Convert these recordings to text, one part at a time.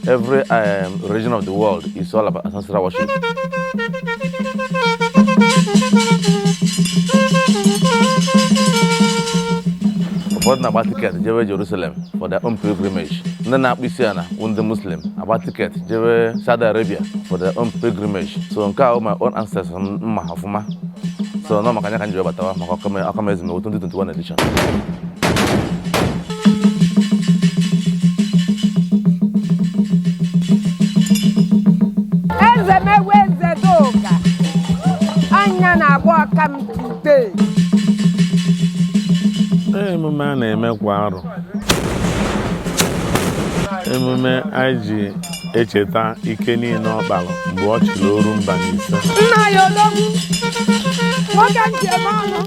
Every um, region of the world is all about ancestral worship. ụfọdụ na-agba tiketi jewe Jerusalem for their own pilgrimage ndị na-akpụ isi ala bụ ndị Muslim agba tiketi jewe Saudi Arabia for their own pilgrimage so nke a my own ancestors m ma ọfụma so nọ maka nya ka m ji wee batawa maka ọkam Ezemewi 2021 edition Ezemewi Ezedoga nya na-agba ọkam today emume a na-eme kwa arọ emume anyị ji echeta ike niile ọ kpara mgbe ọ chịrị oru mba na ise nna ya ologbu nwoke njem ọnụ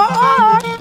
oo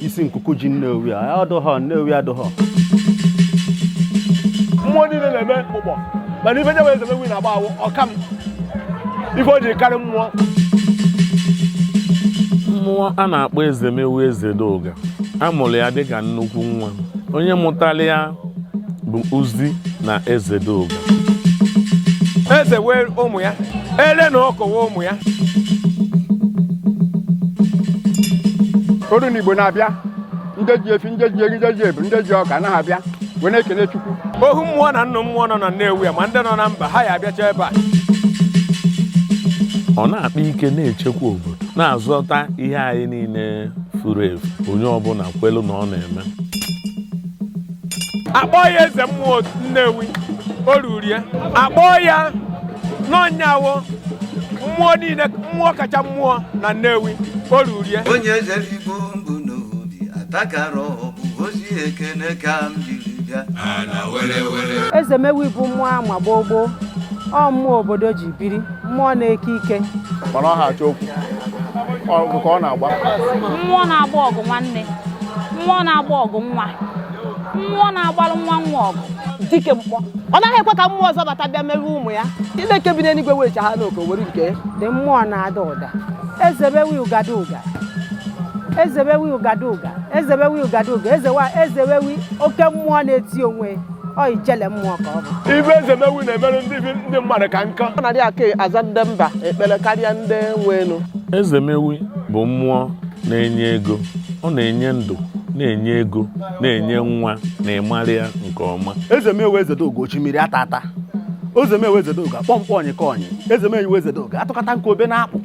isi nkuku ji Nnewi ya adụghọ nnewi adụghọ mmụọ niile na-eme ụgbọ mana ife nyewe Ezemewi na-agba awụ ọkam ife o ji karị mmụọ mmụọ a na-akpọ Ezemewi Ezedoga a mụrụ ya dịka nnukwu nwa onye mụtara ya bụ Uzi na Ezedoga. Eze wee ụmụ ya, ele na ọkụ wee ụmụ ya. Oru n'Igbo na-abịa, ndị ji efi, ndị ji eri, ndị ji ewu, ndị ji ọka na-abịa wee na-ekele Chukwu. Ohu mmụọ na nnụ mmụọ nọ na Nnewi a ma ndị nọ na mba ha ya abịacha ebe a. Ọ na-akpa ike na-echekwa obodo, na-azọta ihe anyị niile furu efu, onye ọbụla kwelu na ọ na-eme. a kpọọ ya eze mmụọ nnewi o ruru ya a kpọọ ya na ọ nya wụ mmụọ niile mmụọ kacha mmụọ na nnewi o ruru ya onye eze igbo mbụ n'obi atakara ọ bụ ozi ekene ka m jiri bịa Ezemewi bụ mmụọ a ma gboo gboo ọ mmụọ obodo ji biri mmụọ na-eke ike mana ọ ha achọ okwu ọgụ ka ọ na-agba mmụọ na-agba ọgụ nwanne mmụọ na-agba ọgụ nwa mmụọ na-agbalụ nwa nwa ọgụ dike mkpọ ọ naghị ekwe ka mmụọ ọzọ bata bịa merụọ ụmụ ya chineke bi n'eluigwe werecha ha n'oke were nke ya dị mmụọ na-ada ụda Ezemewi ụgadụga Ezemewi ụgadụga Ezemewi ụgadụga ezewa Ezemewi oke mmụọ na-eti onwe ya ọ ijele mmụọ ka ọ bụ ife Ezemewi na-emere ndị bi- ndị mmadụ ka nkọ ọ na-adị aka aza ndị mba ekpere karịa ndị nwe elu Ezemewi bụ mmụọ na-enye ego ọ na-enye ndụ na-enye ego na-enye nwa na ịmara ya nke ọma Ezemewi Ezedoga oshimiri atata Ezemewi ezedoga kpọmkpọ onye ka onye Ezemewi Ezedoga atụkọta nke obe na-akpụ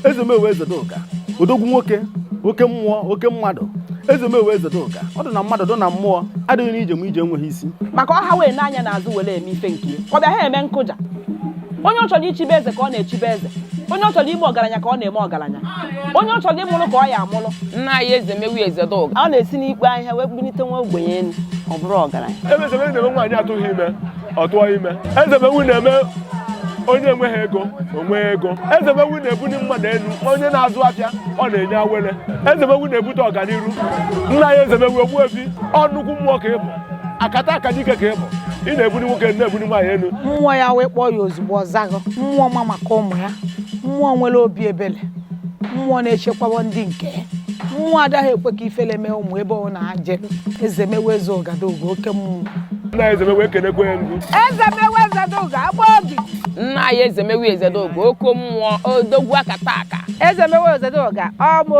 Ezemewi Ezedoga odogwu nwoke oke mmụọ oke mmadụ ezemewi ezedoga ọ dị na mmadụ dị na mmụọ adịghị n'ije m ije enweghị isi maka ọha wee n'anya n'azụ were eme ife nke ọ bịa ha eme nkụja onye ọ chọrọ ichibe eze ka ọ na-echibe eze onye ọ chọrọ ime ọgaranya ka ọ na-eme ọgaranya onye ọ chọrọ ịmụrụ ka ọ ya amụrụ nna anyị ezemewi ezedoga ọ na-esi n'ikpo ahịhịa wee kpunite nwa ogbenye elu ọ bụrụ ọgaranya ezemewi na-eme nwaanyị atụghị ime ọ tụọ ime ezemewu na-eme onye enweghị ego o nwee ego ezemewu na-ebuli mmadụ elu onye na-azụ afịa ọ na-enye awele ezemewu na-ebute ọganiru nna anyị ezemewu ogbuefi ọ nnukwu mmụọ ka ị bụ akataka dike ka ị bụ ị na-ebuli nwoke na-ebuli nwaanyị elu mmụọ ya wee kpọọ ya ozugbo ọ zago mmụọ ma maka ụmụ ya mmụọ nwere obi ebele mmụọ na-echekwawa ndị nke ya. mmụọ adaghị ekwe ka ifele mee ụmụ ebe ọ na-aje ezemewi eze ọgadoga oke mmụọ nna ezemewi ekenekwe ya ngu ezemewi ezedoga agba oge nna anyị ezemewi ezedoga oke mmụọ odogwu akataka ezemewi ezedoga ọmụ